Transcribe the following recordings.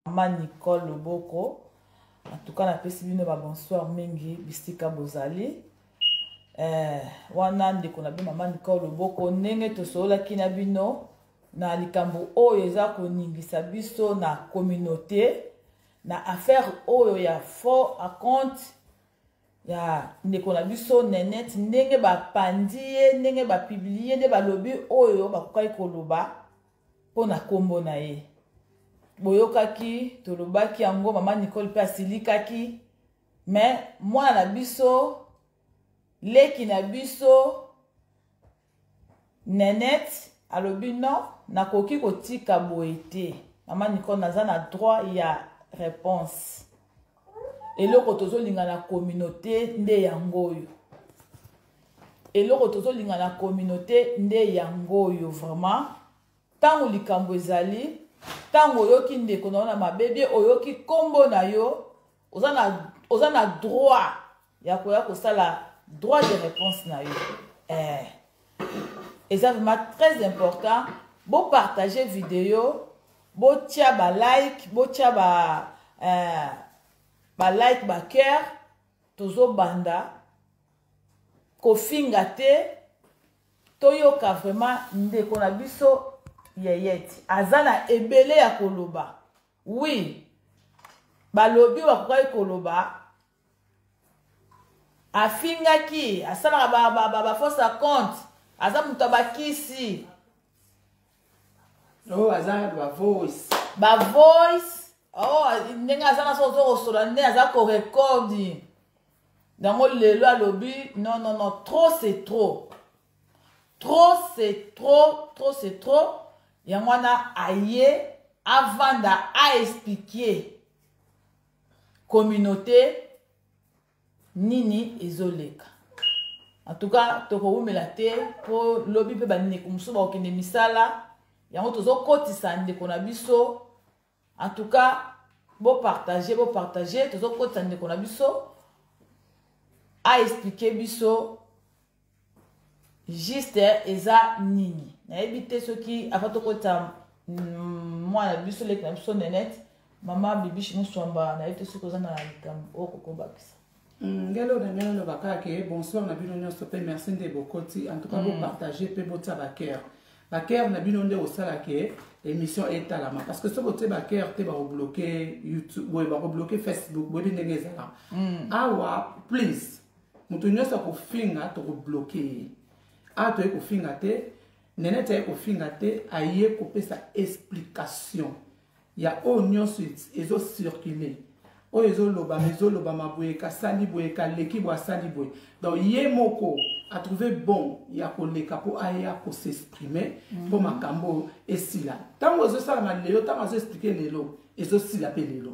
mama nicole loboko antuka napesi bino babonsoir mingi bisika bozali eh, wana ndeko na bino mama nicole loboko ndenge tosololaki na bino na likambo oyo eza koningisa biso na communauté na affaire oyo ya faux acompte ya ndeko na biso nenete ndenge bapandi ye ndenge bapiblie nde balobi oyo bakokaki koloba mpo na nkombo na ye boyokaki tolobaki yango mama nicole mpe asilikaki me mwana na biso leki na biso Nenette alobi non nakoki kotika boye te mama nicole naza na droit ya réponse eloko tozolinga na communauté nde yango oyo eloko tozolinga na communauté nde yango oyo vraiment ntango likambo ezali ntango oyoki ndeko na yo na mabe bie oyoki nkombo na yo oza na, oza na droit ya koya kosala droit de réponse na yo eh. eza vraiment très important bopartage video botya balike botya ba, eh, balike bacoeur tozobanda kofinga te toyoka vraiment ndeko na biso yeyeti aza na ebele ya koloba wi balobi bakokaki koloba afingaki asalaka ba, ba, ba, ba fausse à compte aza moto ya bakisi oh, aza ba voice ba voice oh, ndenge aza na soki ozokosola nde aza korekodi yango lelo alobi non non non trop c'est trop trop c'est trop trop c'est trop yango wana aye avanda aexplike communauté nini ezoleka en tout cas tokowumela te mpo lobi mpe bandeko mosusu bakokende misala yango tozokotisa ndeko na biso en tout cas bopartage bopartage tozokotisa ndeko na biso aexplike biso juste eza nini nayebi te soki ava tokota mm, mwana biso leki na biso nenete mama bibishi moswamba nayebi te soki oza na likambo oyo kokobakisa mm, ngelo na ngai naloba kaka ke bonsoir na bino nyonso mpe merci nde bokoti en tout cas mm. bopartage mpe botia baker baker na bino nde osala ke émission etalama parce que soki otie baker te bakobloke youtube boye bakobloke facebook boyebi ndenge ezala awa please moto nyonso akofinga tokobloke ye awa toye kofinga te nenete aye kofinga te aye kopesa explication ya oyo nyonso ezocircule oyo ezolobama ezolobama boye kasali boye kaleki boye asali boye donc ye moko atrouve bon ya koleka mpo aya kosexprime mpo mhm. makambo oyo esila ntango ezosalama lelo ntango azoexplike lelo ezosila mpe lelo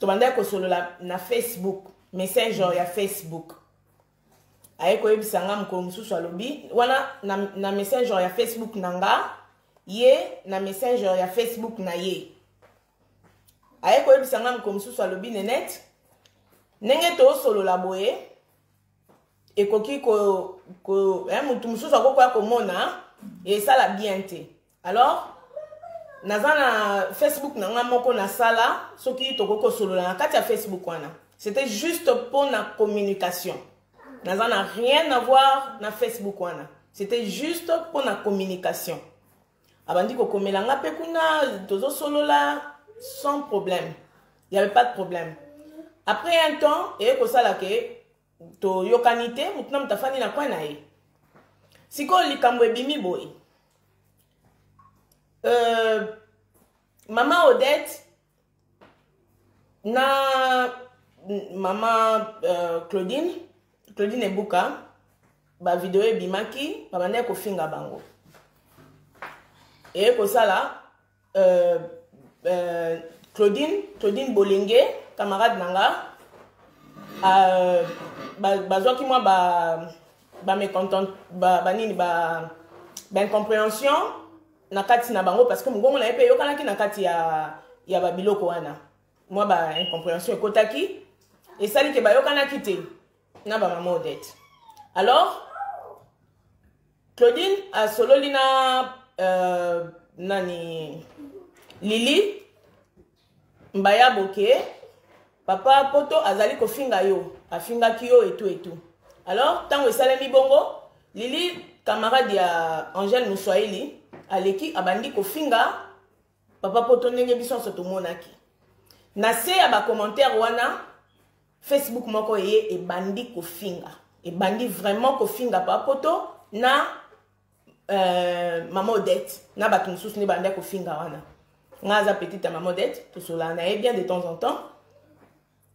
tobandaki kosolola na facebook messenger ya facebook aye koyebisa nga mokolo mosusu alobi wana na, na messenger ya facebook na nga ye na messenger ya facebook na ye aye koyebisa nga mokolo mosusu alobi nenete ndenge tosolola boye ekoki ko, ko eh, motu mosusu akokoya komona esala bien te alors naza na facebook na ngai moko nasala soki tokoki kosolola na kati ya facebook wana c'était juste mpo na communication naza na rien avoir na facebook wana c'était juste mpo na communication abandi kokomela nga mpe kuna tozosolola sans problème il y avait pas de problème après un temps eye kosala ke toyokani te motu na motu afandi na kwe na ye sikoyo likambo ebimi boye euh, mama odette na mama euh, claudine claudine ebuka bavideo ebimaki babandaki kofinga bango eye kosala Euh, euh, Claudine, Claudine Bolenge, camarade nanga, euh, bazwaki ba, mwa ba, ba mécontent, ba, ba nini, ba, ba incompréhension na kati na bango parce que mongongo na ye mpe eyokanaki na kati ya, ya babiloko wana mwa ba incompréhension ekotaki esali ke bayokanaki te na ba maman odette alors claudine asololi na euh, nani lili mbaya boke papa poto azali kofinga yo afingaki yo etu etu alors ntango esalemi bongo lili camarade ya angèle moswahili aleki abandi kofinga papa poto ndenge biso nyonso tomonaki na se ya bacommentaire wana facebook moko eye ebandi kofinga ebandi vraiment kofinga papa poto na euh, mama odette na bato mosusu nde bandaki kofinga wana ngai aza petite ya mama odette tosolana na ye bien de temps en temps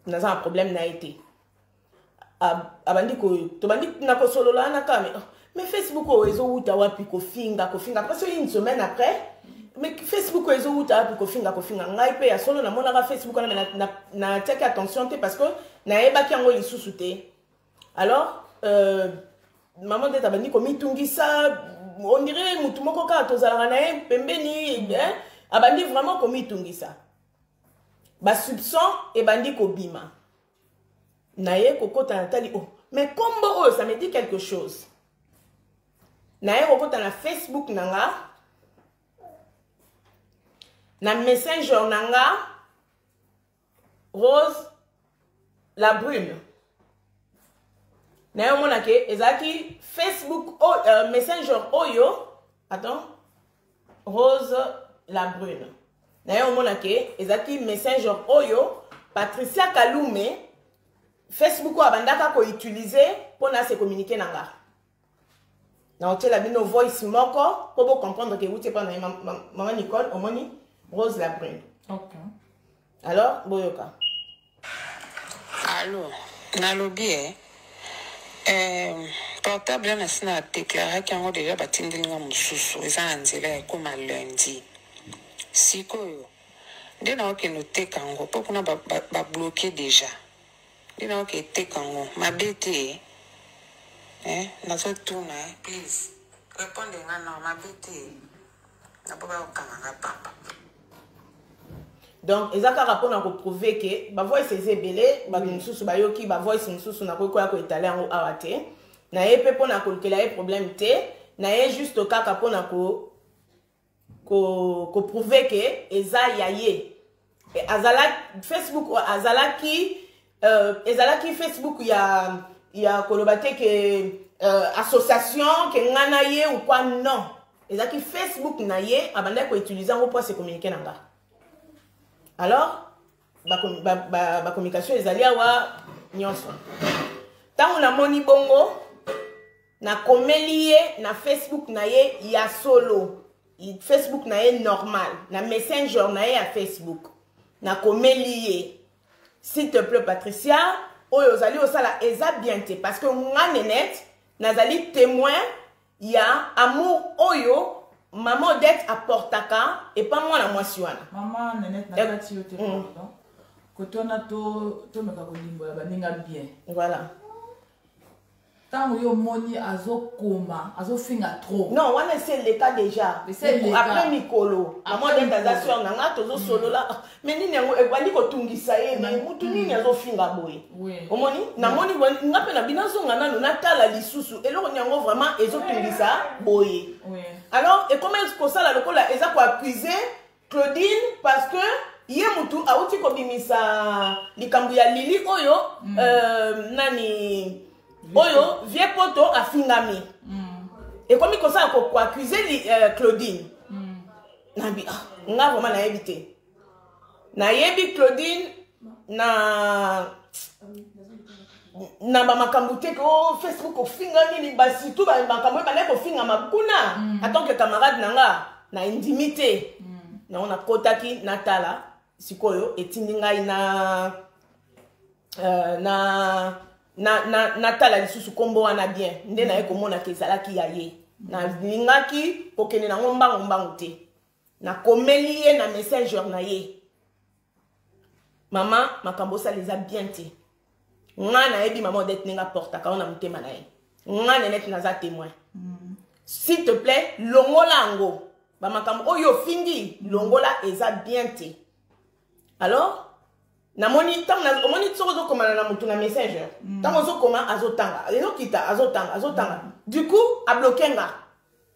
naza na problème na ye te abandi tobandi na kosolola wana kaka mais oh, mais facebook oyo ezowuta wapi kofinga kofinga après soki une semaine après mais facebook oyo ezowuta wapi kofinga kofinga ngai mpe ya solo namonaka facebook wana me natiaki attention te parce que nayebaki yango lisusu te alors euh, mama ndete abandi komitungisa ondire motu moko kaka tozalaka na ye pembeni abandi vraiment komitungisa ba soupçon ebandi kobima naye kokota na tali oh mais kombo oyo ça me dit quelque chose naye kokota na facebook na nga na messenger na nga rose la brune naye omonake ezalaki facebook oh, euh, messenger oyo attends rose la brune naye omona ke ezalaki messenger oyo patricia kalume facebook oyo abandaka koutilize mpo na se communique na nga naotyela bino voice moko mpo bocomprendre ke euti epa na ye mama nicole omoni rose la brune okay. alors boyoka alo nalobi e eh, eh, portable na si na déclaraki yango deja batindeli nga mosusu eza na nzela ya ekoma lundi sikoyo nde naokende oteka yango mpo kuna babloke ba, ba deja nde naoke eteka yango mabe te eh? eh, nazotuna eh, please reponde nga nao mabe te napo bakokanga nga pamba donc eza kaka mpona koprouve ke bavoice eza ebele bato mosusu bayoki bavoice mosusu nakoki koya koetale yango awa te na ye mpe mpona kolukela ye problème te na ye juste kaka mpona ko koprouve ko ke eza ya ye azalaki facebook azalaki euh, ezalaki facebook ya ya koloba te ke euh, association ke nga na ye ou quoi non ezalaki facebook na ye abandaki koutilize yango mpo asekominike na nga alors bacommunication ba, ba, ba, ba ezali awa nyonso ntango namoni bongo nakomeli ye na facebook na ye ya solo facebook na ye normal na messenger na ye ya facebook nakomeli ye s'il te plaît patricia oyo ozali osala eza bien te parce que nga nenete nazali témoin ya amour oyo mama odette aportaka epa mwana mwasi wana mama nenete nakati yo te mm. pardon kote wana tomeka kolimbola baninga bien voilà ntango yo omoni azokoma azofinga trop non wana esi eleka déjà après mikolo amodete aza sor na ngai tozosolola mm. me nini yango ebandi kotungisa ye me mm. mutu nini mm. azofinga boye omoni namoni nga mpe na bino azonga nano natala lisusu eloko ni yango vraiment ezotungisa boye alors ekoma kosala lokola eza koaccuse Claudine parce que ye mutu awuti kobimisa likambo ya lili oyo mm. euh, nani oyo vie poto afingami mm. ekomi kosala koaccuse euh, claudine mm. nabi ah, nga vraiment nayebi te nayebi claudine na na bamakambo te ke o oh, facebook ofinga nini basitu makambo oyo bandaki kofingama kuna mm. atant que camarade na nga na endimi te mm. yango nakotaki natala sikoyo etindi ngai na uh, na natala lisusu nkombo wana bien nde mm. naye komonaka ezalaki ya ye mm. nalingaki kokende nango mbangu mbangu te nakomeli ye na messenger na ye mama makambo osala eza bien te ngai nayebi mama odete ndenge aportaka yango na motema na ye ngai nenete naza témoin mm. s'il te plaît longola yango bamakambo oyo ofingi longola eza bien te alors namoni ntango omoni soki ozokomana na motu na messenger mm. ntango ozokoma azotanga ezokita azotanga azotanga mm. du coup abloke nga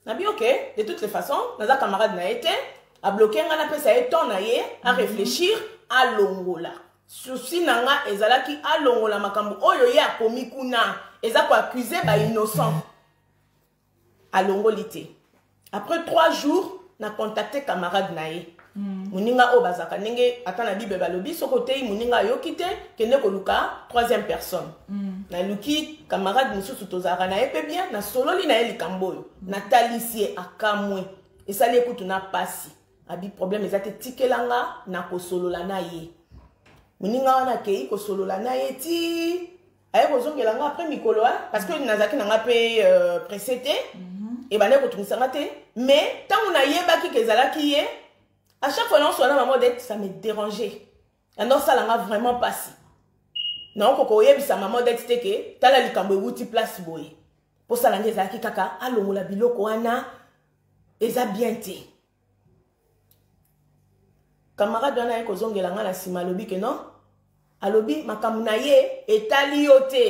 nabi ok de toutes les façons naza camarade na ye te abloke ngai napesa ye temps na ye aréfléchir alongola susi na nga ezalaki alongola makambo oyo ye akomi kuna eza koaccuse bainnocent alongoli te après trois jours na contacte camarade na ye Mm. moninga oyo bazalaka ndenge ata na bible balobi soki oteyi moninga ayoki te kende koluka troisième personne mm. naluki camarade mosusu tozalaka na ye mpe bien nasololi na ye likambo oyo mm. natalisi ye akamwe esali ye kutu na mpasi abi problème eza te tikela nga na kosolola na ye moninga wana akei kosolola na ye ti aye kozongela nga après mikolo hein, parce que nazalaki na nga mpe euh, presse te mhm. ebandaki kotungisa nga te mais ntango nayebaki ke ezalaki ye à chaque fois naoso wana mama odete ça me dérange yango osala nga vraiment mpasi naokoka oyebisa mama odete te ke tala likambo ewuti place boye mposala nde ezalaki kaka alongola biloko wana eza bien te camarade wana aye kozongela ngai na nsima alobi ke non alobi makambo na ye etali yo te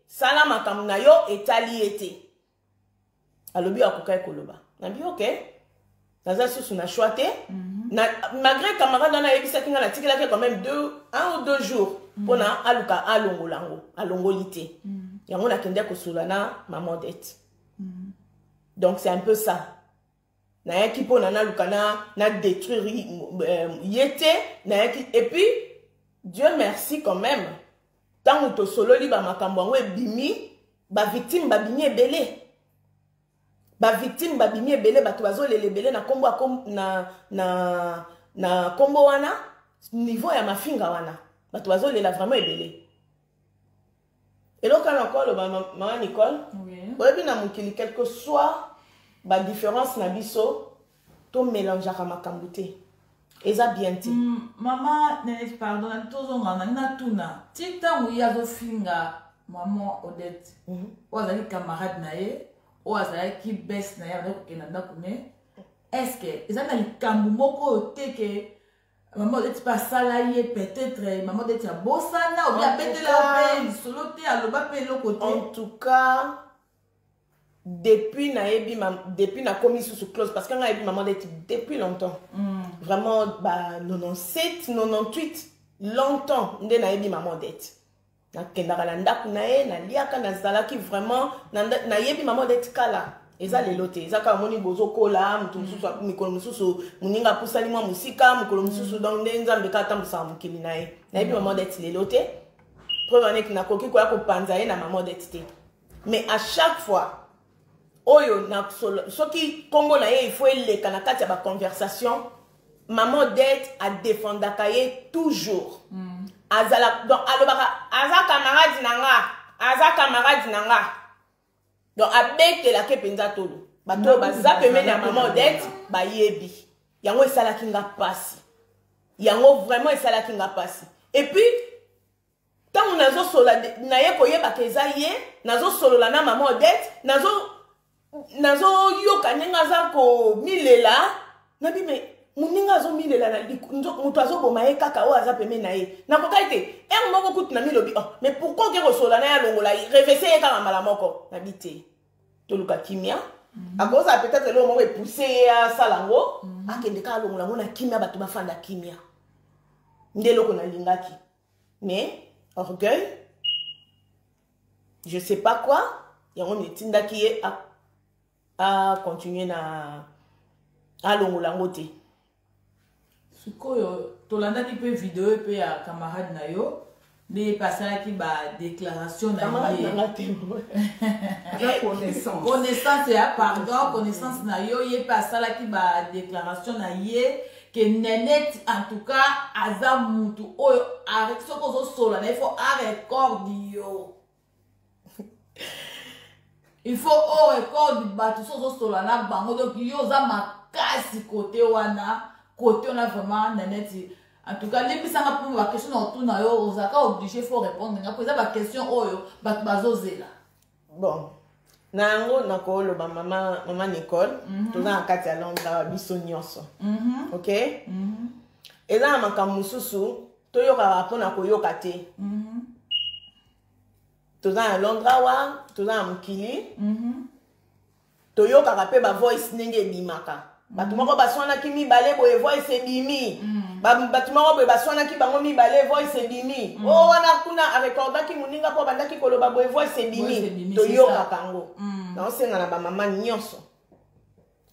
sala makambo na yo etali ye te alobi oyo akokaki koloba nabi oke naza susu na choix te mhm. na, malgré camarade wana ayebisaki ngai natikelaki quand même deux, un ou deux jours mpo mhm. na aluka alongola yango alongoli te mhm. yango nakendaki kosula na maman dete donc c'est un peu ça nayaki mpona naluka na, na détruire euh, ye te nayaki epuis dieu merci quand même ntango tosololi bamakambo yango ebimi bavictime babimi ebele bavictime babimi ebele bato bazolela ebele na kombo na, na, na kombo wana niveau ya mafinga wana bato bazolela vraiment ebele eloko na ko aloba mama nicole oyebi na mokili quelque soit badifference na biso tomelangeaka makambo te eza bien te mm, mama nenete pardon na tozonga nangi natuna ti ntango ye azofinga mama odette mhm. oyo azalaki camarade na ye oyo azalaki bese na ye azalaki kokenda ndako ne estce eza na likambo moko oyo te ke mama odeti mpe asala ye peut-être mama odeti abosana obi abetela mpe lisolo te aloba mpe eloko te en tout cas depuis nayebi depuis nakomi susu close parce que nga yebi mama odeti depuis longtemps mm. vraiment ba 97 98 longtemps nde nayebi mama odeti nakendaka na ndako na ye naliaka nazalaki vraiment nayebi mama odeti kala eza lelo te eza kaka moni bozokola moto mosusu mikolo mosusu moninga apusani mwa mosika mokolo mosusu mm. donc nde nzambe kaka atambusaka mokili na ye nayebi mama odeti lelo te preuve aneki nakoki koya kopanza ye na mama odeti te mais à chaque fois oyo na solo soki kombo na ye il faut eleka na kati ya ba conversation maman odette adefendaka ye toujours mm. azala donc alobaka aza camarade na nga aza camarade na nga donc abetelaka mpenza tolo bato oyo baza pembeni ya maman odette bayebi yango esalaki nga mpasi yango vraiment esalaki nga mpasi epuis ntango nazosola naye koyebaka eza ye nazosolola na mama odete nazoyoka ndenge aza komilela nabi me moninga azomilela na moto azoboma ye kaka oyo aza peme na ye nakokaki te ere moko kutu na milobi oh, mais pourkui oke kosolola na ye alongola ye revese ye kaka mbala moko nabi te toluka kimia mm -hmm. akozala peut-être eloko moko epousse ye asala yango mm -hmm. akende kaka alongola yango na kimia bato bafanda kimia nde eloko nalingaki mais orgueil je sais pas quoi yango nde etindaki ye acontinue na alongola yango te sikoyo tolandaki mpe video mpe ya camarade na yo nde ye mpe asalaki badéclaration na ye connaissance ya pardon connaissance na yo ye mpe asalaki badéclaration na ye ke neneti en tout cas aza mutu oyo soki ozosola na ye fo arecorde yo il faut orecorde bato soki ozosola na bango donc yo oza makasi kote wana kote wana vraiment neneti en tout cas limbisanga mpo baquestion na otuna yo ozalaka oblige fo répondre nga mpo eza baquestion oyo bato bazozela bon na yango nakoloba mama, mama nicole mm -hmm. toza na kati ya londre awa biso nyonso mm -hmm. ok mm -hmm. eza na makambo mosusu toyokaka mpo na koyoka te mm -hmm. toza na londre awa toza na mokili mm -hmm. toyokaka mpe bavoice ndenge ebimaka mm. bato moko baswanaki mibale boye voice ebimi mm. bato moko boye baswanaki bango mibale voice ebimi mm. o wana kuna arekordaki moninga mpo abandaki koloba boye voice ebimi toyokaka yango naosenga na bamama nyonso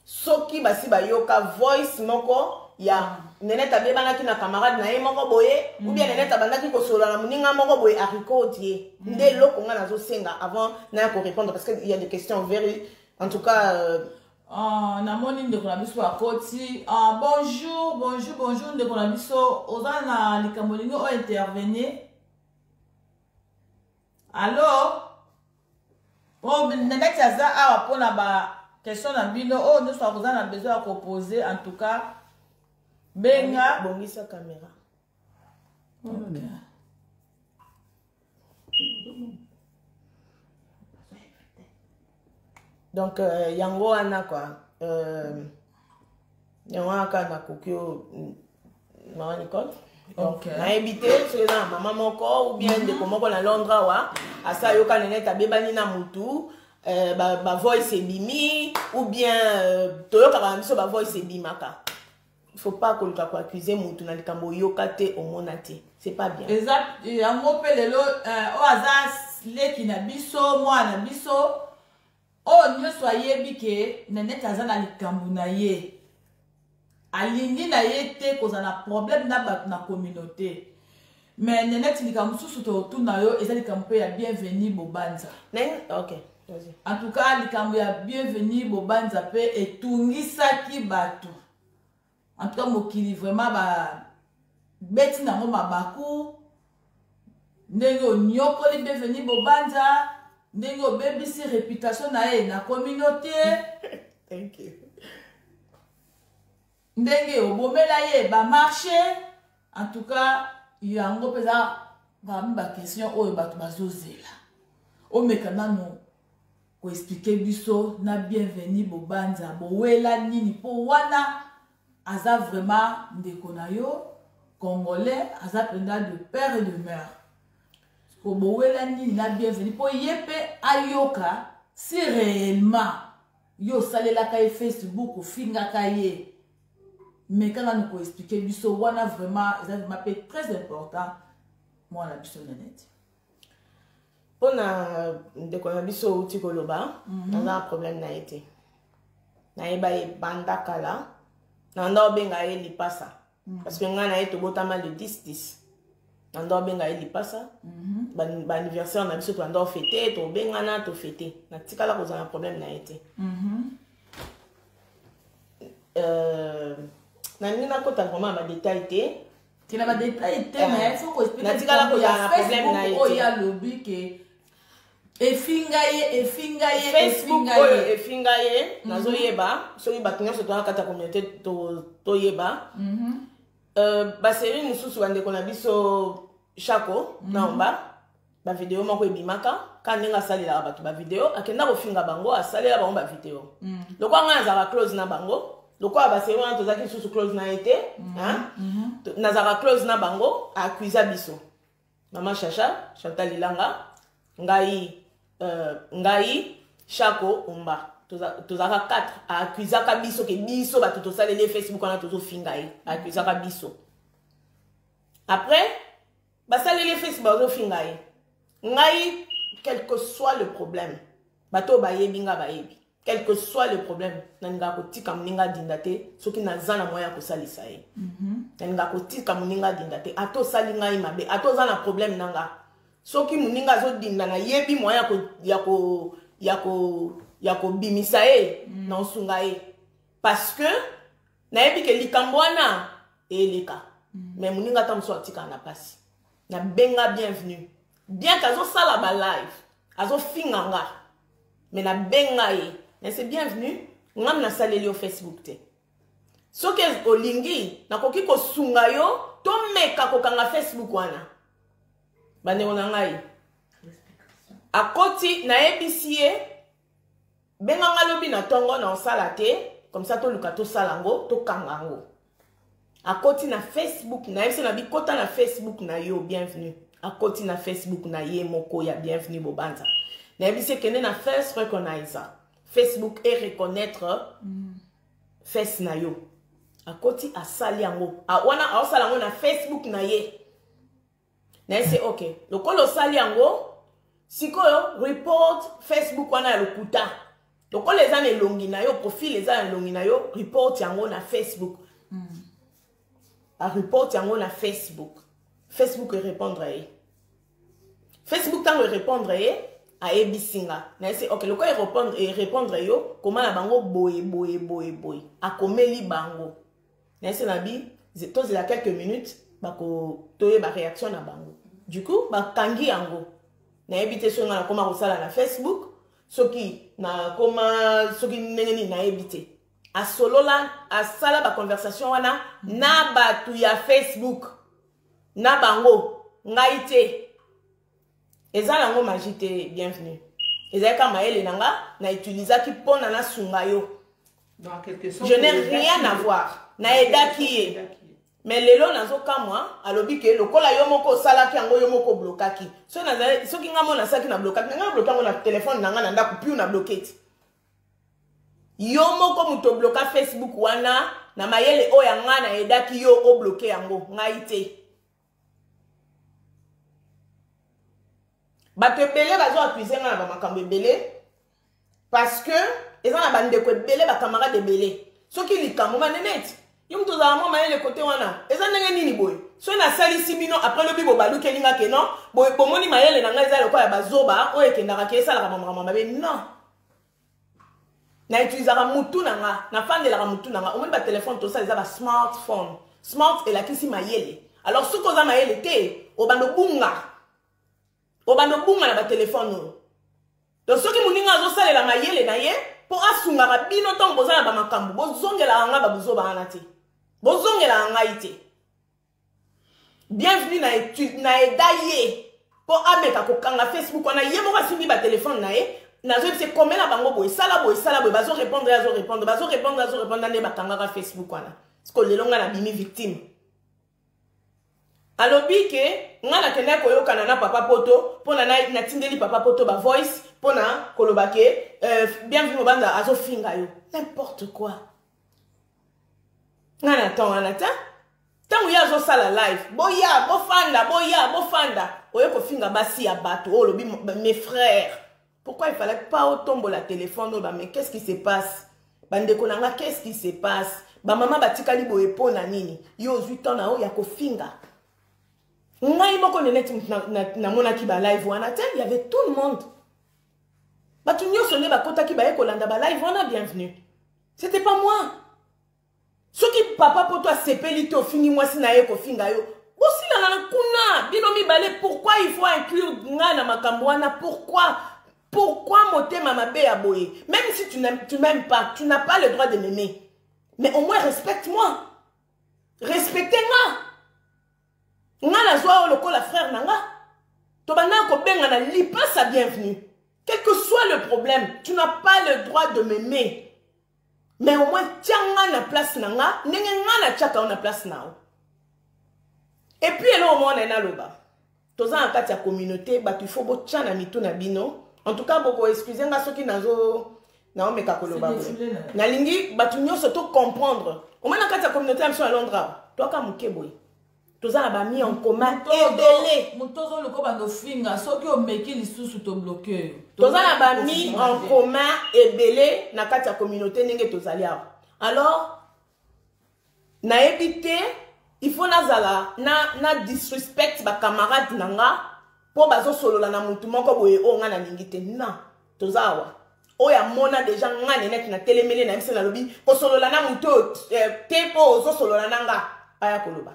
soki basi bayoka voice moko ya nenete abebanaki na camarade na ye moko boye ubia nenete abandaki kosolola na moninga moko boye arikodi ye nde eloko ngai nazosenga avant naya korépondre parce que il y a des questions very en tout cas euh... Uh, namoni ndeko na biso akoti uh, bonjour bonjour bonjour ndeko na biso oza na likambo lingi o intervenir allo o oh, nanaki aza awa mpo na ba question na bino oyo oh, nyonso akoza na besoin ya kopose en tout cas benga bongisa kamera donc euh, yango wana kua euh, yango wana kaka nakoki yo mm, mama nicole nayebi te soki eza na mama moko ou bien mhm. ndeko moko na londre awa asi ayoka nene ete abebani na motu euh, bavoice ebimi ou bien toyokaka na biso bavoice ebimaka faut pas koluka ko accuser mutu na likambo oyoka te omona te c'est pas bien eza yango mpe lelo euh, oyo aza leki na biso mwana na biso oyo nyonso ayebi ke nanete aza na likambo na ye alingi na ye te kozala na problème na bato na communauté mais neneti likambo mosusu totuna yo eza likambo mpe ya bienvenu bobanza okay. en tout cas likambo ya bienvenu bobanza mpe etungisaki bato en tout cas mokili vraiment babeti nango mabaku ndenge onyokoli bienvenu bobanza ndenge obebisi reputation na ye na communauté ndenge obomela ye ba marche en tout cas yango mpenza parmi ba question oyo bato bazozela omeka nano koexplike biso na bienvenu bobanza bowela nini mpo wana aza vraiment ndeko na yo congolais aza mpenza de père et de mère kobowela nini na bienvenu mpo ye mpe ayoka si réellement yo osalelaka ye facebook ofingaka ye meka nanu koexplike biso wana vraiment eza vraiment mpe très important mwana biso nenete mpo na ndeko na biso outi koloba mhm. naza na problème na ye te nayeba ye banda kala na nda obenga ye lipasa mm. parce que ngai na ye tobotama le 10 10 na ndo abenga ye lipasa mhm. baanniversaire na biso tobanda ofete tobengana tofete natikala kozala na problème na ye te mhm. euh, nalingi nakota vraiment na badetail te tina badetail te eh. natikala kozala na problème na ye te efinga ye efinga ye facebook oyo efinga ye mhm. nazoyeba soki bato nyonso toa kati ya communauté toyeba mhm. euh, baserie mosusu bandeko na biso shako mhm. naomba bavideo moko ebimaka ka ndenge asalelaka bato bavideo akenda kofinga bango asalela bango bavideo lokola ngai nazalaka close na bango lokola baserie wana tozalaki lisusu close na ye te nazalaka close na bango akuiza biso mama shasha chantal ilanga ngai euh, ngai shako omba tozalaka quatre aakuzaka biso ke biso bato tosaleli facebook wana tozofinga ye aakuzaka biso après basaleli facebook bazofinga ye ngai quelque soit le problème bato oyo bayebi ngai bayebi quel que soit le problème nalingaka kotika moninga adinda te soki naza na moyen ya kosalisa ye mhm. nalingaka kotika moninga adinda te ata osali ngai mabe ata oza na problème na nga soki moninga azodinda nayebi moyen ya kobimisa ye mhm. na osunga ye parce que nayebi ke likambo wana eleka mhm. mais moninga ata mosusu atikaka na mpasi nabenga bienvenue bien ke azosala balive azofinga nga me nabenga ye nase bienvenue ngam nasaleli yo facebook te soki olingi nakoki kosunga yo tomeka kokanga facebook wana bandeko na ngai akoti nayebisi ye benganga lobi na ntongo na osala te komisa toluka tosala yango tokanga yango akoti na facebook na ye se na bikota na facebook na yo bienvenue akoti na facebook na ye moko ya bienvenue bobanza nayebisi ekende na face recognizer facebook e reconnaître mm. face na yo akoti asali yango wana aosala yango na facebook na ye na ye se ok lokola osali yango sikoyo report facebook wana ya lokuta lokola eza na elongi na yo profile eza na elongi na yo report yango na facebook mm. areport yango na facebook facebook erépondre ye facebook ntango erépondre ye ayebisi nga na ye se ok lokola erépondre yo koma na bango boye boye boye boye akomeli bango na ese na bi tozela quelques minutes bako toyeba réaction na bango du coup bakangi yango nayebi te soki ngai nakoma kosala na facebook soki nakoma soki ndenge nini nayebi te asolola asala baconversation wana na bato ya facebook na bango ngai te eza nango magie te bienvenue ezalaki kaka mayele na nga na utilisaki mpona nasunga yo je n'ai rien à voir naedaki ye mais lelo nazokamwa alobi ke lokola yo moko osalaki yango yo moko oblokaki soki ngai mo nasalaki na blokaki ngai nabloki yango na telefone na ngai na ndako piu na bloke ti yo moko moto obloka facebook wana na mayele oyo ya ngai naedaki yo obloke yango ngai te bato ebele bazo accuse nga na bamakambo ebele parce que eza na bandeko ebele bacamarade ebele soki likambo maneneti yo moto ozala mwa mayele kote wana eza ndenge nini boye soki nasalisi bino apres lobi bobalukeli nga ke non bomoni mayele na ngai eza lokola ya bazoba oyo ekendaka ke esalaka bamakambo mabe non na utilisaka mutu na nga nafandelaka mutu na nga omoni batelefone tosala eza basmartphone smart elakisi mayele alors soki oza mayele te obanda obunga obanda obunga na batelefone oyo to soki moninga azosalela mayele na ye mpo asungaka bino ntango boza na bamakambo bozongelaka ngai babuzoba wana te bozongelaka ngai te bienvenue na etude na eda ye mpo ameka kokanga facebook wana ye moko asimbi batelefone na ye nazoyebisa ekomela bango boye sala boye sala boye bazo répondre azo répondre bazo répondre azo répondre nde bakangaka facebook wana siko lelo ngai nabimi victime alobi ke ngai nakendaki koyokana na papa poto mpo na natindeli papa poto bavoice mpo na koloba ke euh, bienvenu mobanza azofinga yo n'importe quoi nga na temps wana te ntango ye azosala live boya bofanda boya bofanda oye kofinga basi ya bato oyo olobi mes frères pourquoi il fallait pas otombola telefone oyo bame qu'est ce qui se passe bandeko na nga qu'est ce qui se passe bamama batikali boye mpo na nini yo ozwi temps na yo ya kofinga ngai moko neneti namonaki balive wana te y avait tout le monde bato nyonso nde bakotaki baye kolanda balive wana bienvenue c'était pas moi soki papa poto asepeli te ofingi mwasi na ye kofinga yo bosilana na kuna bino mibale pourquoi il faut inclure ngai na makambo wana pourquoi pourquoi motema mabe ya boye même si tu m'aimes pas tu n'as pas le droit de m'aimer mais au moins respecte moi respecte nga nga nazwa yo lokola frère na nga tobandaka kobengana lipasa bienvenue quel que soit le problème tu n'as pas le droit de m'aimer mais au moins tia nga na place na nga ndenge nga natiaka yo na place na yo epuis eloko moko na ye naloba toza na kati ya communauté bato ifo botya na mitu na bino en tout cas bokoexcuse nga soki nazo naomeka koloba boye nalingi bato nyonso tocomprendre omoi na kati ya communauté ya biso ya londres awa toaka moke boye toza na bami en commun ebele moto ozoluka obanda ofinga soki omeki lisusu tobloke yo toza na bami en commun ebele na kati ya communauté ndenge tozali awa alors nayebi te il faut nazala na, na disrespect bacamarade na nga mpo bazosolola na motu moko boye oyo ngai nalingi te na toza awa oyo amona deja ngai nenete natelemeli na ye mpe nalobi kosolola na motu oyo eh, te mpo ozosolola na nga aya koloba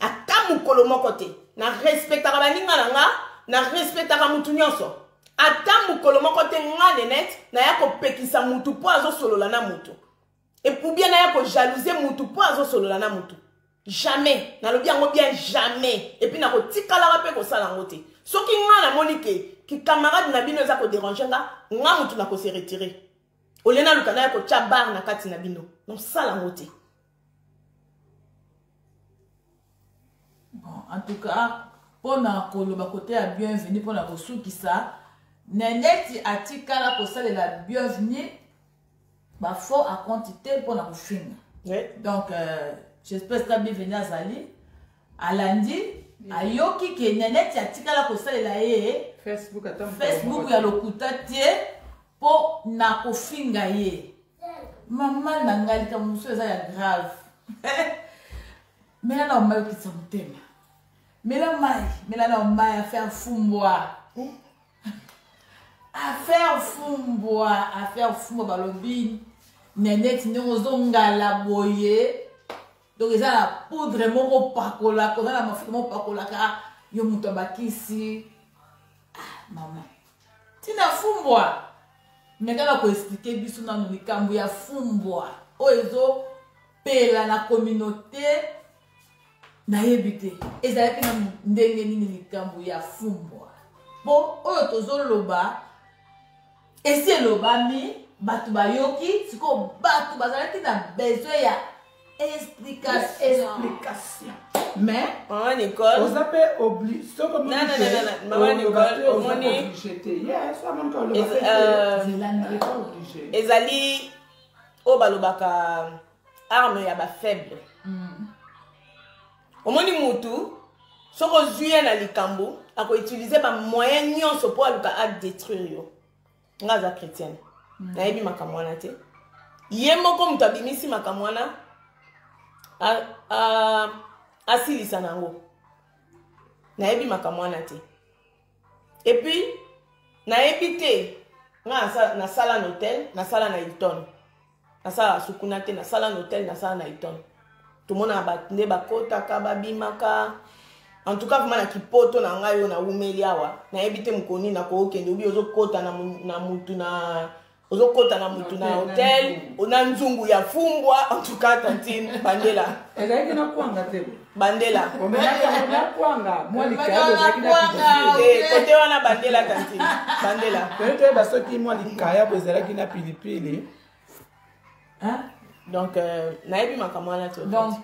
ata mokolo moko te na respectaka baninga na nga na respectaka motu nyonso ata mokolo moko te nga nenete naya kopekisa motu mpo azosolola na motu epoubien naya kojalouse motu mpo azosolola na motu jamais nalobi yango bien jamais epuis nakotikalaka mpe kosala yango te soki nga namoni ke kikamarade na bino eza koderange nga nga motu nakose retire olie naluka naya kotya bare na kati na bino nosala yango te bon en tout cas mpo na koloba kote ya bienvenu mpo na kosukisa neneti atikala kosalela bienvenu bafaux akonti te mpo na kofinga donc euh, j'espèce ka bienvenu azali alandi ayoki ke neneti atikala kosalela ye facebook ya lokuta te mpo na kofinga ye mama na ngai likambo mosusu eza ya grave mela na omai okitisa motema mela mai mela na omai affaire fumbwa eh? affaire fumbwa affaire fumbwa balobi neneti ndenge ozongala boye donc eza na poudre moko opakolaka oza na mafuta moko opakolaka yo moto abakisi ah, mama tina fumbwa mekaka koexplike biso nano likambo ya fumbwa oyo ezopela na communauté nayebi te ezalaki na ndenge nini likambo ya fumbwa mpo oyo tozoloba esi elobami bato bayoki sikoyo bato bazalaki na besoin ya explication mais maman nicole oza mpe oblige soki omioblige te yes amoni kaolobaaoblige ezali oyo balobaka arme ya bafaible mm. omoni mutu soki ozwi ye na likambo akoutilize bamoyen nyonso mpo aluka adetruire yo nga aza chrétienne mm. nayebi makambo wana te ye moko moto abimisi makambo wana asilisa na yango nayebi makambo wana te epuis nayebi te nga nasala na hotel nasala na hilton nasalaka sukuna te nasala na hotel nasala na iton tomonaka bato nde bakotaka babimaka en tout cas vraimen na kipoto na ngai oyo naumeli awa nayebi te mokolo nini nakookende obi ozokota na motu na ozokota na motu na hotel na nzungu ya fumbwa en tout cas tantine bandela ezalaki na kwanga te bandela kote wana bandela kantine bandela toyebi toyeba soki mwa likayabo ezalaki na pilipili donc euh, nayebi makambo wana to donc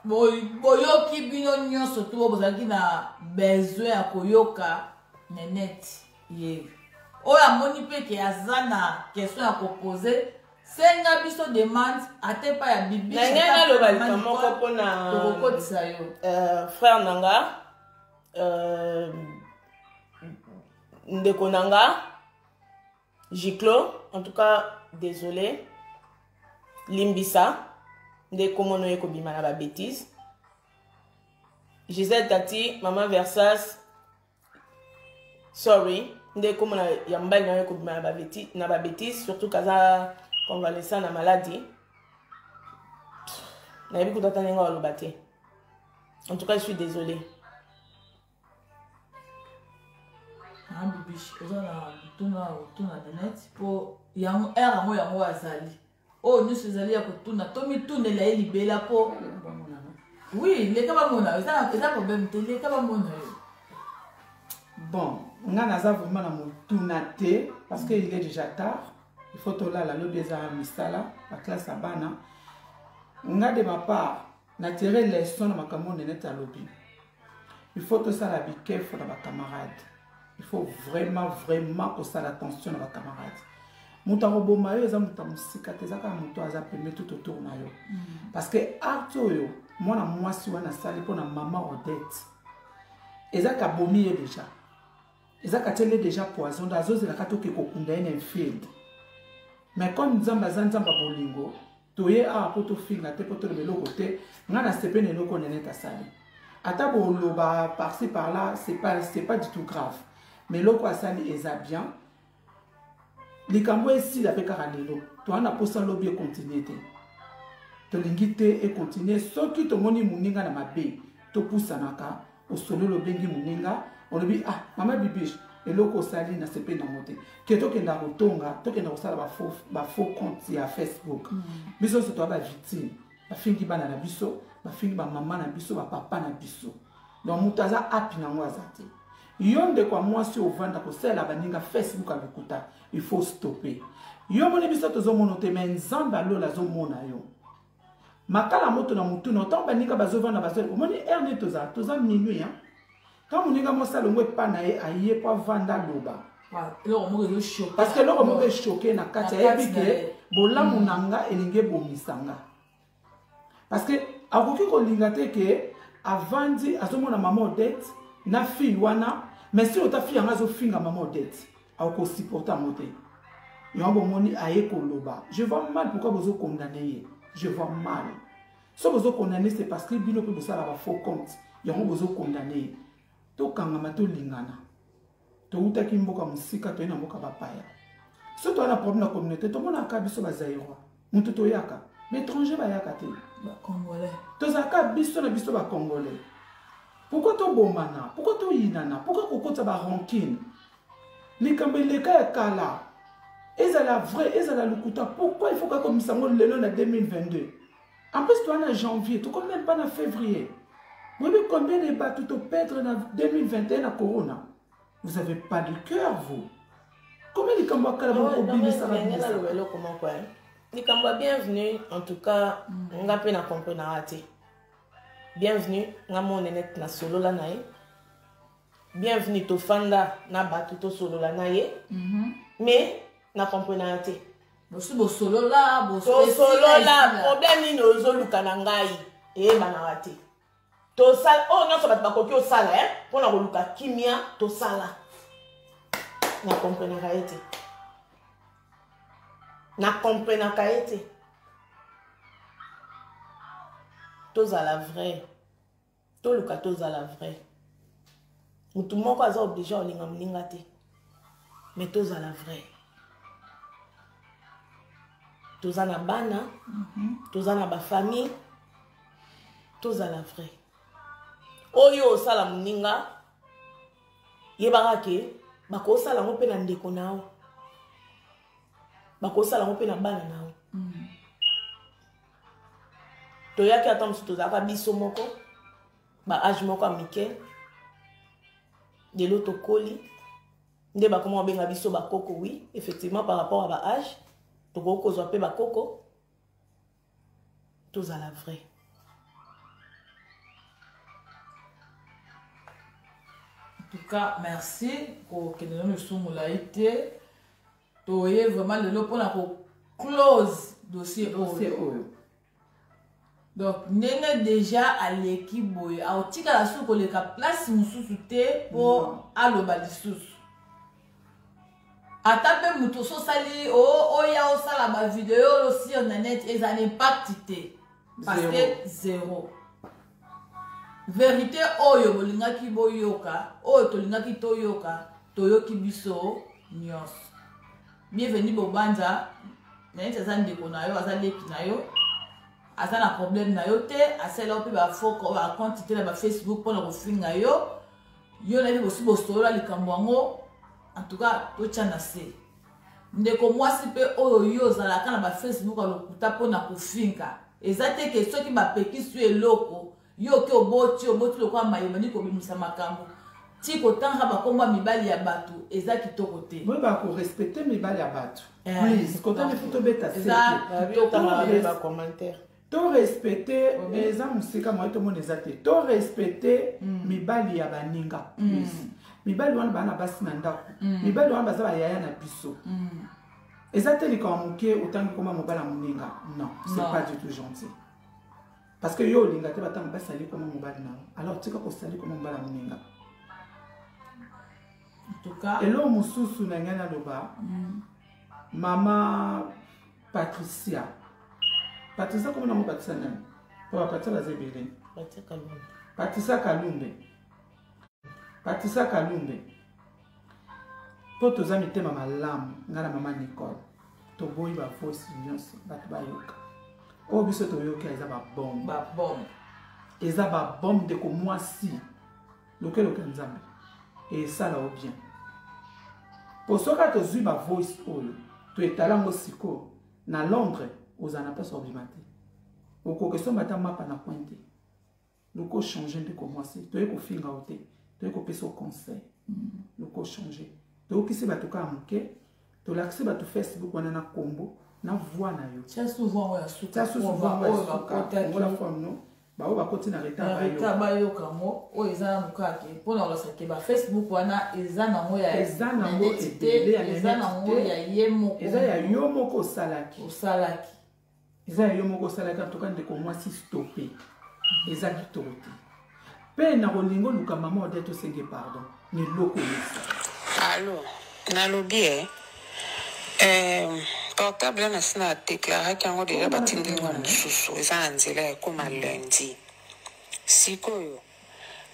boyoki bino nyonso to oyo bozalaki na besoin ya koyoka nenete ye oyo amoni mpe ke aza na question ya kopose senga biso demande ata epai ya bibina ngai naloba lika moko mpona tokokotisa yo euh, frère na nga euh, ndeko na nga giclo en tout cas désolé limbisa nde komono ye kobima na babétise gisèle tati mama versas sorry nde ekomona ya mobali nayo ekobima na babetise surtout kaza convalescent na maladi nayebi kuta ata ndenge aloba te en tout cas je suis désolé ah, bibish oza na tuna tuna donate mpo yango heure yango yango azali oyo nyonso ezali ya kotuna tomitunela ye libela mpo oui leka bamona eza problème te leka bamona yo bon nga naza vraiment na motuna te parce que il est déjà tard il faut tolala lobi eza misala baklasse ya bana nga de ma part na tire leson na makambo oyo nenete alobi il faut tosala bikefo na bacamarade il faut vraiment vraiment kosala attention na bacamarade moto akoboma yo eza moto ya mosika te eza kaka moto aza pembe tout autour na yo mm. parce que arte oyo mwana mwasi wana asali mpo na mama odette eza kabomi ye deja eza katiele deja poison azozelaka toke kokunda ye na infield mais comme nzambe aza nzambe ya bolingo toye awa mpo tofinga te mpo toloba eloko te ngai nasepe na eloko nenete asali ata boloba parci par là c'est pas, pas du tout grave mais eloko asali eza bien likambo esila mpe kaka lelo toa na mposa lobi ekontinue te tolingi te ekontinue soki tomoni moninga na mabe topusanaka osololi obengi moninga olobi ah mama bibiche eloko osali na sepe nango te ke tokenda kotonga tokenda kosala bafaux compte ya facebook mm. biso nyonso toya bavictime bafingi bana na biso bafingi bamama na biso bapapa na biso donc moto aza api nango aza te yo ndeko ya mwasi ovanda kosalela baninga facebook ya lokuta il faut stoppe yo moni biso tozomona te me nzambe alola azomona yo makala moto na motuna ntango baninga bazovanda bazali omoni heure nde toza toza minuit hein? ntango moninga mwasi alongo epa na ye aye mpo avanda aloba parce que eloko moko eshoke na kati ayebi ke bolamu na nga elingi ebomisa nga parce que akoki kolinga te ke avandi azomona mama odete na fille wana mais si ota fille yango azofinga mama odete akosupporte yango te yango bomoni aye koloba je vois mal pourquoi bozo condamne ye je vois mal so bozo condamne c'est parce que bino mpe bosala ba faux compte yango bozo condamne ye tokangama tolingana towutaki mboka mosika toye na mboka bapaya so toya na problème na communauté tomonaka biso bazairois motu toyaka baétranger bayaka te bacongolais tozalaka biso na biso bacongolais pourkoi tobomana pourkoi toyinana pourkoi kokotisa barankine likambo eleka ya kala ezala vrai ezala lokuta pourkoi ifoka komisa yango lelo na 2022 en plus toa na janvier tokomi meme pas na février boyebi combien de bato topedre na 2021 na corona vous avez pas de cœur vous combien likambo ya kala bokobimisaka naloba eloko moko eh. likambo ya bienvenue en tout cas mm. nga mpe na comprenaka te bienvenue nga monenete nasolola na ye bienvenue tofanda na bato tosolola na ye mhm. mais na comprenaka te bosi bosolola bosolola problème nini ozoluka na ngai eyebanaka te tosala oyo nyonso bato bakoki osala e eh, mpo na koluka kimia tosala na komprenaka ye te na komprenaka ye te tozala vrai toluka tozala vrai motu moko aza oblige olinga moninga te mais tozala vrai toza na bana mm -hmm. toza na bafamille tozala vrai oyo osala moninga yebaka ke bakosala yango mpe na ndeko na yo bakosala yango mpe na bana na yo mm. toyaki ata mosusu tozalaka biso moko ba age moko ya mike lelo tokoli nde bakoma kobenga biso bakoko oui effectivement par rapport à ba age tokoki kozwa mpe bakoko tozala vrai tout cas merci kokende nano lisusu molai te toye vraiment lelo mpona ko close dossier oyo donc ndenge deja aleki boye akotikala suki koleka place mosusu te mpo mm. aloba lisusu ata mpe moto so osali oya osala bavideo oyo sur na net eza na impact te parce que zero verité oyo bolingaki boyoka oyo tolingaki toyoka toyoki biso nyonso bienvenu bobanza nayeti aza ndeko na yo aza leki na yo aza na problème na yo te asala yo mpe bafoko oyo akonte te na bafacebook mpo na kofinga yo yo nayebi bosi bosolola likambo yango en tout cas totya na se ndeko mwasi mpe oyo yo ozalaka na bafacebook ya lokuta mpo na kofinga eza te ke soki bapekisi yo eloko yo ke oboti oboti lokola mayo bandi kobimisa makambo ti kotanga bakombo ya mibali ya bato eza kitoko te boyeba korespecte mibali ya bato eh, please kotanga efi tobeta torespecte eza mosika moye tomona eza te torespecte mm. mibali ya baninga mm. please mibali wana bana basi na ndako mm. mibali wana baza bayaya na biso eza te likambo moke otangi koma mobala moninga non c'est pas du tout gentil parce que yo olinga te batanga basi ali koma mobali na yo alors tika kosali koma mobali ya moninga eloko mosusu na ngai naloba mm. mama patricia patricia komi nango patricia nani po bapatricia baza ebele patricia kalumbe patricia kalumbe mpo toza mitema malamu ngai na mama nicole toboyi bavosi nyonso bato bayoka oyo biso toyoki eza babombe babombe eza babombe ndeko mwasi lokeloke nzambe esala o bien mpo soki tozwi bavoice oyo toetala yango sikoyo na londres ozala na mposa obima te okoki osomba ata mapa na coin te loko changer ndeko mwasi toye kofinga yo te toye kopesa yo conseil mm. loko changer toyokisi bato kaka moke tolakisi bato facebook wana na nkombo na voi na yo tia souvent oyo asuka baoyo bakoti na retard bayoka yango oyo eza na mokake mpo na kolakisa ke bafacebook wana eza nango yaeza nango ya ye moko eza ya yo moko osalaki osalaki eza ya yo moko osalaki antuka ndeko mwasi stope eza kitoko te mpe na kolinga oluka mama ode tosenge pardon na eloko yesa alo nalobi e eh, portable wana asi na deklaraki yango deja batindi yango mosusu eza na nzela ya ekoma lundi sikoyo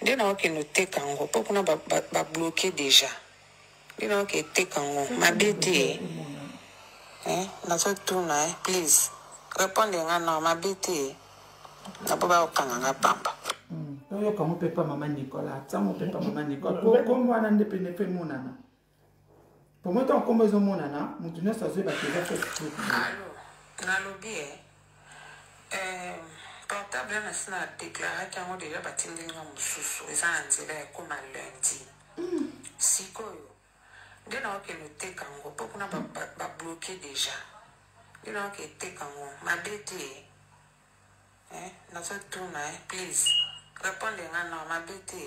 nde naokende oteka yango mpo kuna babloke ba, ba deja bino oke eteka ngo mabe te eh, nazotuna eh, please repondre nga no mabe te napo bakokanga nga pamba hmm, toyoka mopepa mama nicola tia mopepa mama nicola po kombo wana nde pene mpe emonana po moi ntango kombo ezomonana moto nyonso azwi bato eza facebook nalobi e eh, Eh, portable wana si na deklaraki yango deja batindeli nga mosusu eza na nzela ya ekoma lundi hmm. sikoyo nde naokende oteka yango mpo kuna babloke deja nde naoke eteka yango mabe te eh, nazotuna eh, please repondre nga no mabe te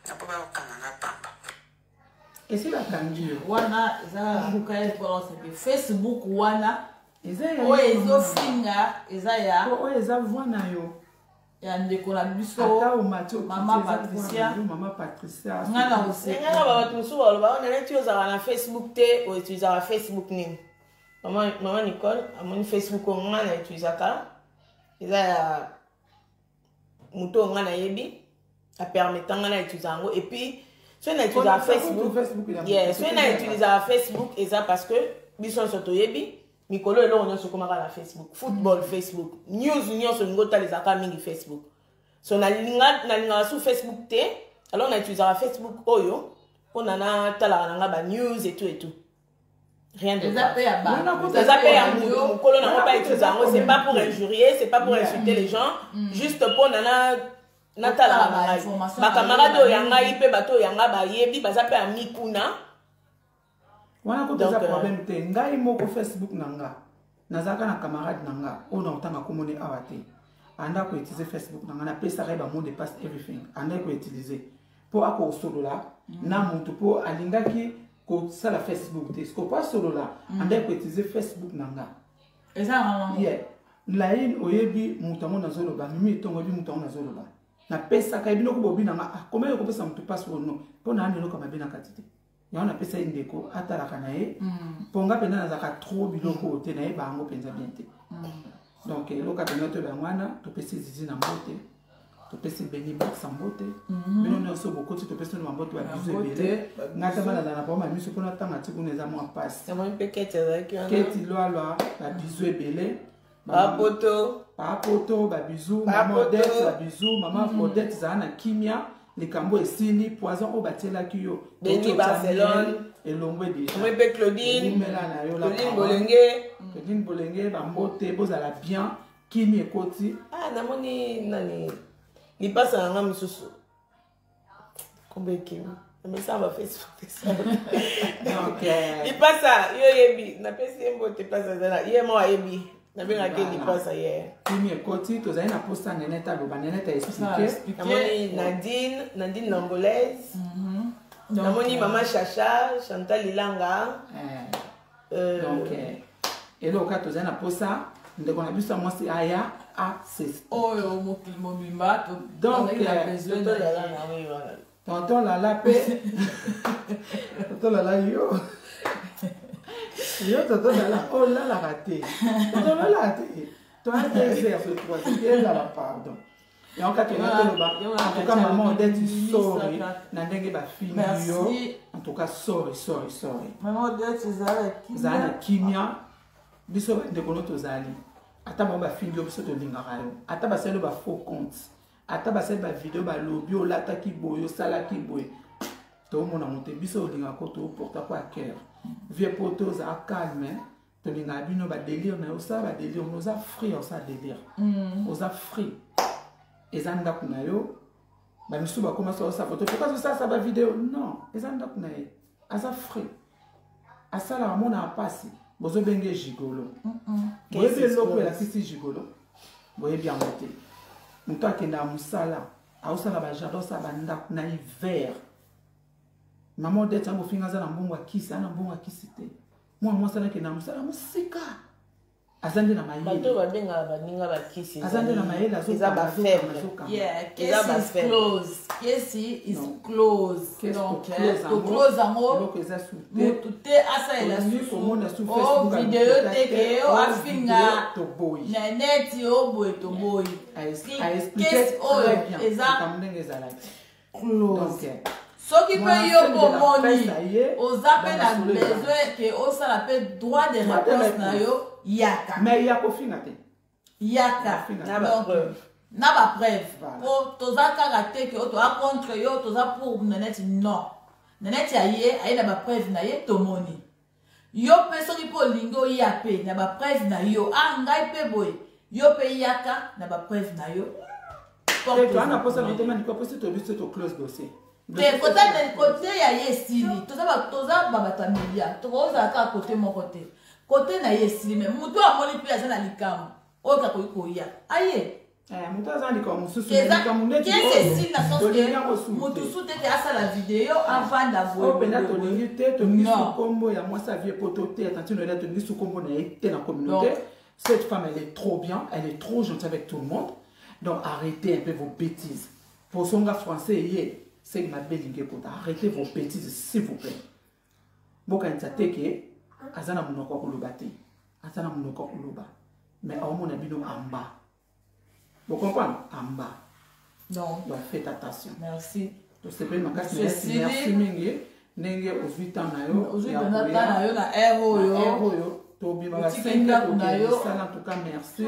na mpo bakokanga nga pamba esi bakangi yo wana eza luka ya force te facebook wana oyo ezofinga eza ya oyo eza voi na yo ya ndeko na biso mama patricia mama patricia nga na osekanga babato mosusu balobaka naleti ozalaka na facebook te outilisaka facebook nini mama nicole amoni facebook oyo nga na utilisaka eza ya moto oyo ngai nayebi apermeta ngai na etuza yango epuis soki na etuza facebook soki na etuza facebook eza parce que biso nyonso toyebi mikolo eloko nyonso ekomaka na facebook football mm. facebook news nyonso olingi otala ezalaka mingi facebook so nalingaka su facebook te alors na utilisaka facebook oyo mpona natalaka na ngai banews etu etu rien de eza pe ya ba eza pe ya mutu mukolo na ngo ba études yango c'est pas pour injurier c'est pas pour insulter les gens mm. juste po na na natalaka na ngai bakamarade oyo ya ngai mpe bato oyo ya ngai bayebi baza mpe ya mikuna wana kuta eza euh, problème te ngai moko facebook na nga nazalaka na camarade na nga oyo na kotanga komoni awa te anda koutilize facebook na nga napesaka ye bamot de passe everything andaki koutilize mpo akosolola na mm. motu mpo alingaki kosala facebook te siko mpo asolola mm. andaki koutilize facebook na nga eza yeah. laine oyebi moto yango nazoloba mimi etongo oyebi moto yango nazoloba napesaka ye biloko bobi na nga akomaki ah, kopesa motu mpasi ono mpo na ya miloko mabe na kati te yango napesa ye ndeko atalaka na ye mm. mpo nga mpenza nazalaka tro biloko oyo te nayeba yango mpenza bien te mm. donc eloka mpenza toyeba yango wana topesi zizi na mbote topesi beni bakisa mbote mhm. bino nyonso bokoti topesi no mambote babiso ebele ngai ta balanda na bama miso mpo natanga ti kuna eza mwa mpasi keti lwalwa babiso ebele bapoto bapoto babizu mama odete babizu mama mm. odete zala na kimia likambo esili poison oyo batielaki yo beni barcelone elongwe dejaomoi mpe claudineomela na yo claudine bolenge mm. claudine bolenge bambote bozala bien kimi ekoti ah, namoni nani lipasa na nga mosusu kombo ekimi emesana bafacebook lipasa yo oyebi napesi ye mbote place azala ye mo ayebi nabengaki lipasa ye kimi ekoti tozali na posa nenet aloba nenet aexplike nadine nadine langolaise mhm. namoni mama chacha euh, chantal ilanga eh. euh, donc eh, eloko kaka tozali na mposa ndeko na biso ya mwasi aya ases oyo oh, mokili mobimba donc tonton lala mpe tonton lala yo yo tonton lala olalaka te tonton lala te toa deux heures le troisième elala pardon yango kaka nga toloba antuka mama odete sori na ndenge bafini yo antuka sori sori sori zala na kimia biso bandeko no tozali ata bango bafini yo biso tolingaka yo ata basali yo bafaux compte ata basali bavideo balobi olataki boye osalaki boye tomona mote biso olingaka ko toporta ko aker vie poto ozala calme tolingaka bino badelire na yo osala badelire no oza free osala delire mm. oza free eza ndako na yo bamisusu bakoma sosa foto po kazosalasa bavideo non eza ndako na ye aza free asalaka amonaka mpasi bozobenge gigolo boyebi eloko elakisi gigolo boyebi yango te moto akendaka mosala aosala bajardin osala bandako na hiver mama odete yango ofinga aza na mbongo akisi ana mbongo akisi te mwana mwasi alaki na mosala mosika aza nde na mayelebato oyo babengaka baninga bakisi aza nde na mayele azoeza bafaiblesclose yango motu te asalela susuomona suvideo te ke yo afinga na neti oboye toboyi kesi oyo eza close soki mpe yo bomoni oza mpe na besoin ke osala mpe droit de réponse na yo yaka mais ya kofinga te yaka na bapreuve po toza kaka te ke oyo toza contre yo toza pour naneti non naneti aye aye na bapreuve na ye tomoni yo mpe soki mpe olingi oya mpe na bapreve na yo a ah, ngai mpe boye yo mpe yaka na bapreve na yo toana mposa na yete maniko mposi toyebi so toclose dossier te kote ya ye esili toza babato ya media tokozala kaka kote moko te kote na ye esili me moto amoni mpe aza na likambo oyo kakoki koya aye Eh, moto aza likambo mosusu likambo ndetimotusu te te asala video avanda voyempenza tolingi te tolingi sukombo ya mwasi avie po toteya tantino ela tolingi sukombo na ye te na communauté cette femme elle est trop bien elle est trop gentille avec tout le monde donc arrêtez un peu vos bêtises posonga français eye seki mabe elingi ekota arrêtez vos bêtises s'il vous plaît bokanisa te ke aza na monoko ya koloba te aza na monoko ya koloba mais aomona bino amba bokomprendre amba donc faites attention merci tosepeli makasi merci mingi ndenge ozwi ntango na yo ozwi mpenza ntango na yo na r oyo tobimaka sengi tokendisana tuka merci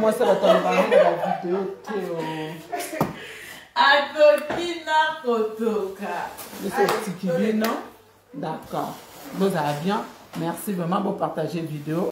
mwasi abatanga bavideo te atoki na kotoka biso etiki bino d'accord bozala bien merci vraiment bopartage video